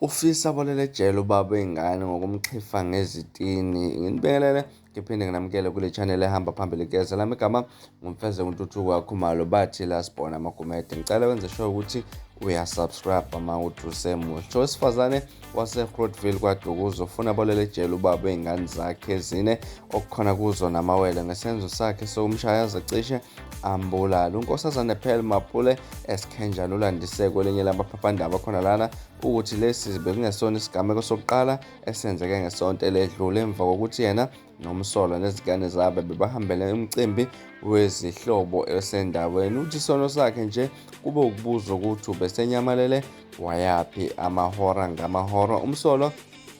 Ufisa abolele ejele ubaba wey'ngane ngokumxhifa ngezitini. Nginibekelele ngiphinde nginamukele kule channel ehamba phambili keza lami igama ngumfeze kuntuthuko kakhumalo bathi la sibona amagumede ngicela wenze sure ukuthi uyasubscribe uma uthi usemusha owesifazane wasegrotville kwadukuza ufuna abolele ejele ubaba wey'ngane zakhe ezine okukhona kuzo namawele ngesenzo sakhe sokumshaya zicishe ambulala unkosazane phel mapule esikhenjana ulandise kwelinye lamaphaphandaba khona lana ukuthi lesi bekungesona isigameko sokuqala esenzeke ngesonto eledlule emva kokuthi yena nomsolwa nezingane zabe bebahambele umcimbi wezihlobo esendaweni uthi isono sakhe nje kube ukubuza ukuthi ubesenyamalele wayaphi amahora ngamahora umsolwa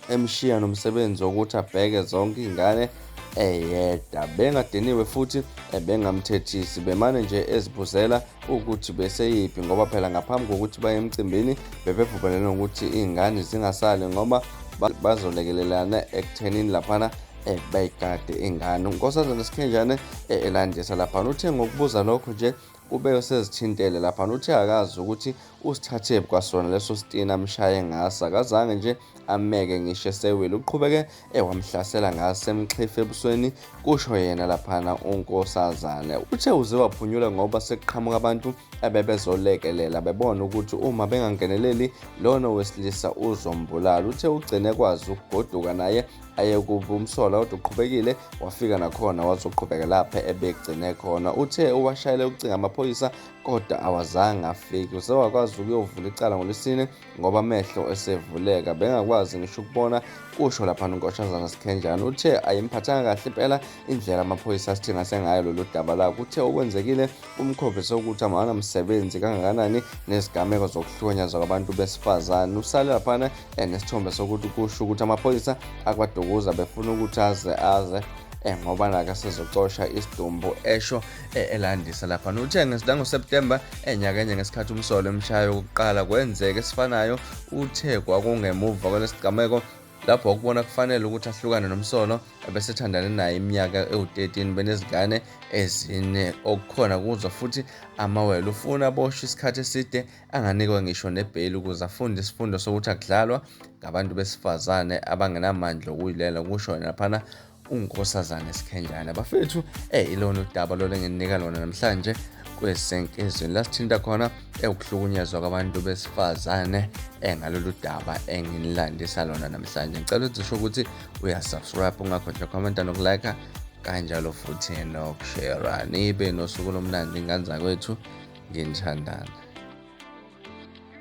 emshiya nomsebenzi wokuthi abheke zonke iy'ngane eyedwa bengadiniwe futhi ebengamthethisi bemane nje ezibuzela ukuthi beseyiphi ngoba phela ngaphambi kokuthi baye emcimbini bebevumelene ukuthi iy'ngane zingasali ngoba bazolekelelana ekuthenini laphana um bayigade ingane unkosazana sikhenjane eh, elandisa laphana uthe ngokubuza lokho nje Kube usezithintele laphana. Uthe akazi ukuthi usithathephi kwasona leso sitini amshaye ngaso. Akazange nje ameke ngisho esewile. Uqhubeke ewamhlasela ngaso emxhifa ebusweni, kusho yena laphana unkosazane. Uthe uze waphunyula ngoba sekuqhamuka abantu abebezolekelela bebona ukuthi uma bengangeneleli lona owesilisa uzombulala. Uthe ugcine kwazi ukugoduka naye ayekubi umsola kodwa uqhubekile wafika nakhona wazoqhubeka lapha ebegcine khona uthe uwashayele ukucinga amaphoyisa kodwa awazange afiki usewakwazi ukuyovula icala ngolwesine ngoba amehlo esevuleka bengakwazi ngisho ukubona kusho lapha nonkosazana sikhenjana uthe ayimphathanga kahle impela indlela amaphoyisa asithina sengayo lolu daba la kuthe okwenzekile umkhombise ukuthi amana msebenzi kangakanani nezigameko zokuhlonyazwa kwabantu besifazane usale laphana enesithombe sokuthi kusho ukuthi amaphoyisa akwadukuza befuna ukuthi aze aze Eh, ngoba naka sizocosha isidumbu esho eh, elandisa lapha uthe ngesilangoSeptember enyakenye eh, ngesikhathi umsolo emshayo wokuqala kwenzeke esifanayo uthe kwakungemuva kwalesigameko lapho wakubona kufanele ukuthi ahlukane nomsono ebesethandane naye iminyaka ewu-13 benezingane ezine okukhona kuzwa futhi amawele ufuna aboshwe isikhathi eside anganikwa ngisho nebheyili ukuze afunde isifundo sokuthi akudlalwa ngabantu besifazane abangenamandla okuyilela kusho naphana uNkosazane Sikhenjana bafethu eh ilona udaba lona enginika lona namhlanje kwesenkizweni lasithinta khona ewukuhlukunyezwa kwabantu besifazane engalolu eh, daba enginilandisa lona namhlanje ngicela ukuthi usho ukuthi uyasubscribe ungakhohlwa commenta nokulike kanjalo futhi nokushera nibe nosuku lomnandi ingane zakwethu nginithandana